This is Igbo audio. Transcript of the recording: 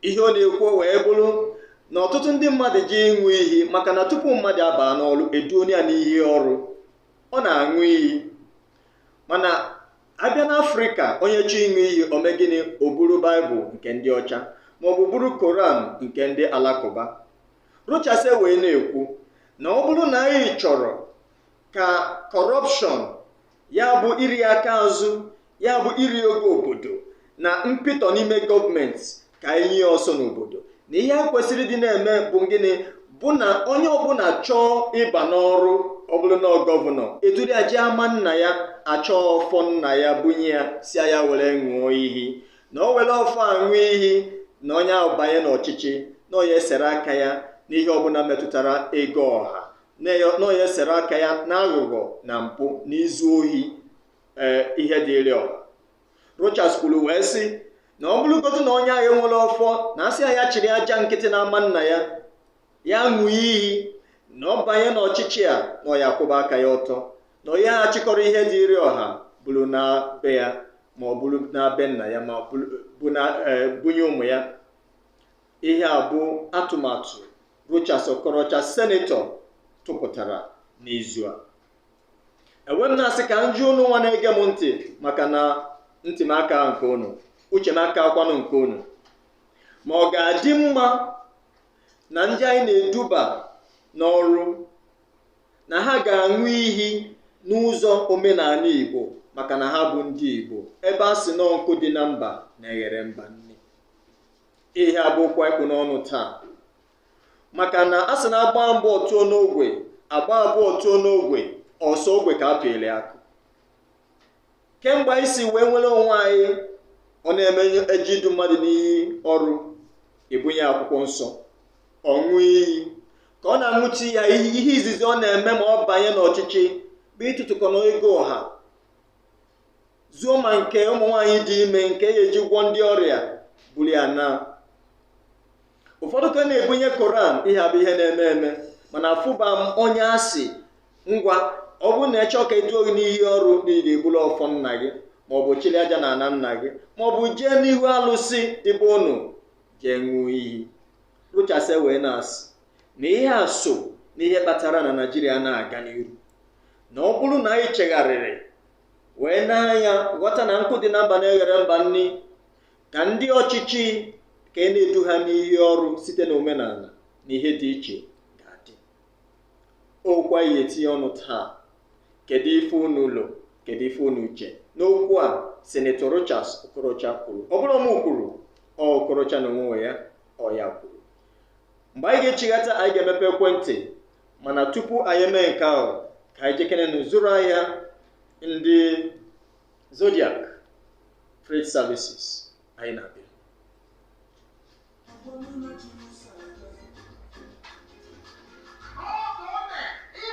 ihe ọ na-ekwu wee bụrụ na ọtụtụ ndị mmadụ ji ịṅụ iyi maka na tupu mmadụ abaa n'ọrụ edu onye a n'iyi ọrụ ọ na-aṅụ iyi mana abịa n'afrịka onye chọọ ịṅụ iyi o mee gịnị o buru baịbụl nke ndị ọcha maọbụ buru koran nke ndị alakụba rochas wee na-ekwu na ọ bụrụ na anyị chọrọ ka kọrọpshọn ya bụ iri aka azụ ya bụ iri ego obodo na mpịtọ n'ime gọọmenti ka anyị nye ọsọ n'obodo na ihe e kwesịrị ịdị na-eme bụ gịnị bụ na onye ọbụla chọọ ịba n'ọrụ ọ bụrụ na ọ gọvanọ eduru ya jee ama nna ya achọọ ọfọ nna ya bunye ya sị ya were ṅụọ iyi na o were ọfọ a ṅụọ iyi na onye ahụ banye n'ọchịchị na ọ ya-esere aka ya n'ihe ọbụla metụtara ego ọha na ya- na ọ ya-esere aka ya n'aghụghọ na mpụ na izu ohi ee ihe dịịrị ọha Rochas kwuru wee sị na ọ bụrụgodu na onye ahụ enwerọ ọfọ na a sị ya chịrị aja nkịtị n'ama nna ya ya ṅụọ iyi na ọ banye n'ọchịchị a na ọ ya-akwụba aka ya ọtọ na ọ yaha achịkọrọ ihe dịịrị ọha buru naa be ya ma o buru naa be nna ya ma ọ bụrụ- bụ na ee, bunye ụmụ ya Ihe a bụ atụmatụ Rochas Okorocha senetọ tụpụtara n'izu a e wee m na-asị ka m jụọ unu nwa na-ege m ntị maka na ntị m aka nke unu uche m akakwanụ nke unu ma ọ ga-adị mma na ndị anyị na-eduba n'ọrụ na ha ga-aṅụ iyi n'ụzọ omenala Igbo maka na ha bụ ndị Igbo ebe a sị na nkụ dị na mba na-eghere mba nni ihe a bụ okwu anyị kpụ n'ọnụ taa maka na a sị na a gbaa mbụ ọ tụọ n'ogwe a gbaa abụọ ọ tụọ n'ogwe ọ sọ ogwe ka a pịrị akụ kemgbe anyị si wee nwere onwe anyị ọ na-eme eje idu mmadụ n'iyi ọrụ ebunye akwụkwọ nsọ ọ ṅụọ iyi ka ọ na-aṅụcha ya ihe izizi ọ na-eme ma ọ banye n'ọchịchị bụ ịtụtụkọ na ego ọha zuo ma nke ụmụ nwaanyị dị ime nke a ya-eji gwọọ ndị ọrịa buru ya naa ụfọdụ ka na-ebunye koran ihe a bụ ihe na-eme eme mana afụba m onye asị ngwa ọ bụrụ na ị chọọ ka eduo gị n'iyi ọrụ na ị ga-ebulu ọfọ nna gị maọbụ chili aja na ana nna gị maọbụ jee n'ihu alụsị dị be unu jee ṅụọ iyi rochas wee na-asị na ihe a so na ihe kpatara na naijiria anaghị aga n'iru na ọ bụrụ na anyị chegharịrị wee n'anya ghọta na nkụ dị na mba na-eghere mba nni ka ndị ọchịchị ka e na-edu ha n'iyi ọrụ site na omenala na ihe dị iche ga-adị okwu anyị ga-etinye ọnụ taa kedu ife unu lo kedu ife unu che n'okwu a senetọ rochas okorocha kwuru ọ bụrọ mụ kwuru ọ okorocha n'onwe ya ọ ya kwuru mgbe anyị ga-echighata anyị ga-emepe ekwentị mana tupu anyị mee nke ahụ ka anyị jekenenụ zụrụ ahịa ndị zodiac freight services anyị na-abịa